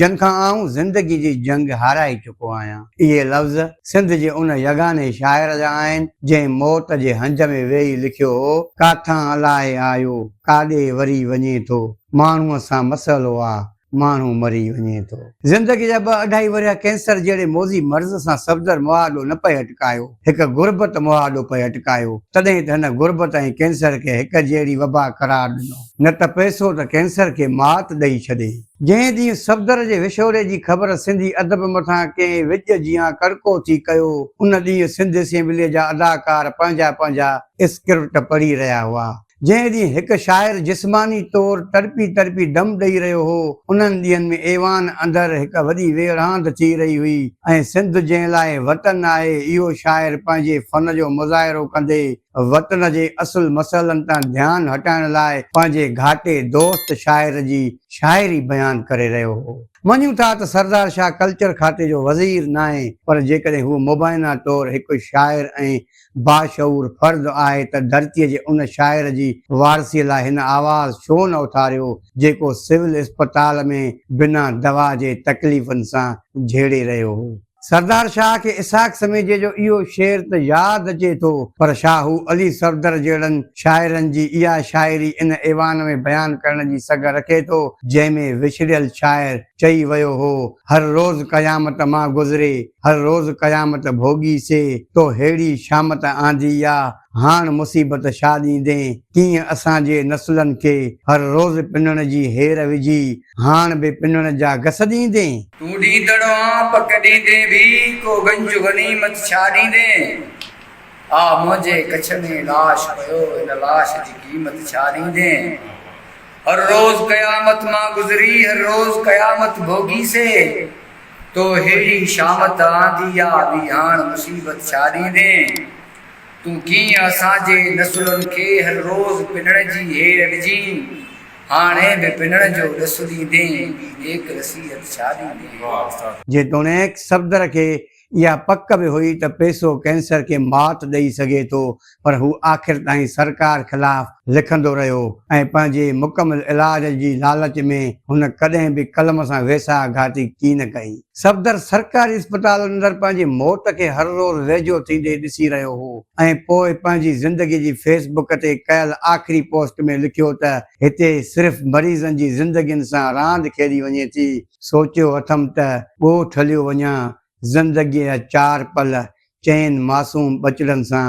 جن کان آئون زندگي جي جنگ هارائي چڪو آهيان. اهي لفظ سنڌ جي ان يگاني شاعر جا آهن، جنهن موت جي هنج ۾ ويهي لکيو هو، ڪاٿان الائي آيو، ڪاڏي وري وڃي ٿو، ماڻهوء سان مسئلو آ، ماڻهو مري وڃي ٿو. زندگي جا ٻه اڍائي ورهيه ڪينسر جهڙي موذي مرض سان صفدر مهاڏو نه پئي اٽڪايو، هڪ غربت مهاڏو پئي اٽڪايو، تڏهن ته هن غربت ۽ ڪينسر کي هڪ جهڙي وبا قرار ڏنو. نه ته پئسو ته ڪينسر کي مات ڏئي ڇڏي. جنهن ڏينهن صفدر جي وڇوڙي جي خبر سنڌي ادب مٿان ڪنهن وڄ جيان ڪڙڪو ٿي ڪيو، ان ڏينهن سنڌ اسيمبليء جا اداڪار پنهنجا پنهنجا اسڪرپٽ پڙهي رهيا هئا. جنهن ڏينهن هڪ شاعر جسماني طور تڙپي تڙپي دم ڏئي رهيو هو، انهن ڏينهن ۾ ايوان اندر هڪ وڏي ويڙهاند ٿي رهي هئي ۽ سنڌ جنهن لاء وطن آهي، اهو شاعر پنهنجي فن جو مظاهرو ڪندي، وطن جي اصل مسئلن تان ڌيان هٽائڻ لاء پنهنجي گهاٽي دوست شاعر جي شاعري بيان ڪري رهيو هو. مڃون ٿا ته سردار شاهه ڪلچر کاتي جو وزير ناهي پر جيڪڏهن هو مبينا طور هڪ شاعر ۽ باشعور فرد آهي ته ڌرتي جي ان شاعر جي وارثي لاء هن آواز ڇو نه اٿاريو جيڪو سول اسپتال ۾ بنا دوا جي تڪليفن سان جهيڙي رهيو هو. سردار شاهه کي اسحاق سميجي جو اهو شعر ته ياد اچي ٿو، پر شاهو علي صفدر جهڙن شاعرن جي اها شاعري ان ايوان ۾ بيان ڪرڻ جي سگهه رکي ٿو، جنهن ۾ وڇڙيل شاعر چئي ويو هو، هر روز قيامت مان گذري، هر روز قيامت ڀوڳي سي، تو ههڙي شامت آندي آ، هاڻ مصيبت ڇا ڏيندين؟ ڪيئن اسان جي نسلن کي هر روز پنڻ جي هير وجهي هاڻ به پنڻ جا گس ڏيندين؟ تون ڏيندڙ آن پڪ ڏيندي به ڪو گنج غنيمت ڇا ڏيندين؟ آء منهنجي ڪڇ ۾ لاش پيو ان لاش جي قيمت ڇا ڏيندين؟ هر روز قيامت مان گذري هر روز قيامت ڀوڳي سي تو هيڙي شامت آندي آ وي هاڻ مصيبت ڇا ڏيندين؟ تون ڪيئن اسان جي نسلن کي هر روز پنڻ جي هير ڏجين، هاڻي به پنڻ جو ڏس ڏيندين ٻي نيڪ نصيحت ڇا ڏيندين. جيتوڻيڪ صفدر کي اها پڪ به هئي ته پيسو ڪينسر کي مات ڏئي سگهي ٿو پر هو آخر تائين سرڪار خلاف لکندو رهيو ۽ پنهنجي مڪمل علاج جي لالچ ۾ هن ڪڏهن به قلم سان ويساهه گهاتي ڪين ڪئي. صفدر سرڪاري اسپتال اندر پنهنجي موت کي هر روز ويجهو ٿيندي ڏسي رهيو هو ۽ پوء پنهنجي زندگي جي فيس بڪ تي ڪيل آخري پوسٽ ۾ لکيو ته هتي صرف مريضن جي زندگين سان راند کيڏي وڃي ٿي، سوچيو اٿم ته ڳوٺ هليو وڃان، زندگيء جا چار پل چئن معصوم ٻچڙن سان